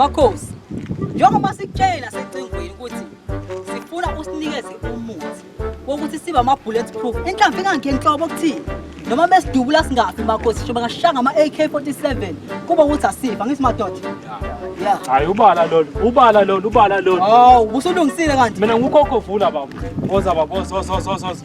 Makhosi, njengoba sikutshela secingweni ukuthi sifuna usinikeze umuthi wokuthi sibe ama-bullet proof inhlamvu ingangikho enhlobo okuthini noma besidubula singafi makhosi sho bangashanga ama-AK-47 kuba ukuthi asifa ngithi madoda ya hayi ubala lolu ubala lolu ubala lolu hawu ubusulungisile kanti mina ngukhokho vula baba boza baba boza boza boza boza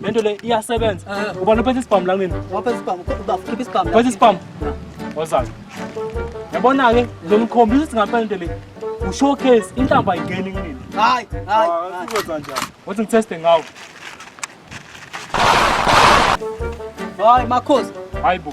Le nto le iyasebenza. Eh. Ubani ophethe isibhamu la kunina? Waphethe isibhamu, uba khipha isibhamu. Phethe isibhamu. Wozani. Yabona ke lo mkhombisa ukuthi ngampela into le. U showcase inhlamba ayingeni kunina. Hayi, hayi. Ah, Sizokwenza njani? Wathi ngiteste ngawo. Hayi makhosi. Hayi bo.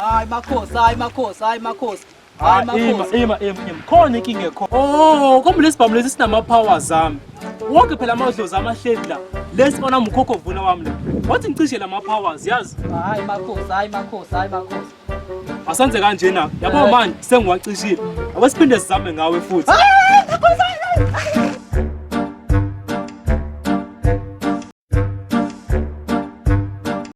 Hayi makhosi, hayi makhosi, hayi makhosi. Hayi Ima, makhosi. ima, ima, ima. Khona inkinga ekho. Oh, kombe lesibhamu lesi sinama power zami. Wonke phela amadlozi amahleli la. Lesi bona mkhokho vuna wami la. Wathi ngicishe lama powers, yazi. Hayi makhosi, hayi makhosi, hayi makhosi. Asenze kanjena. Yabo manje sengiwacishile. Ake siphinde sizame ngawe futhi.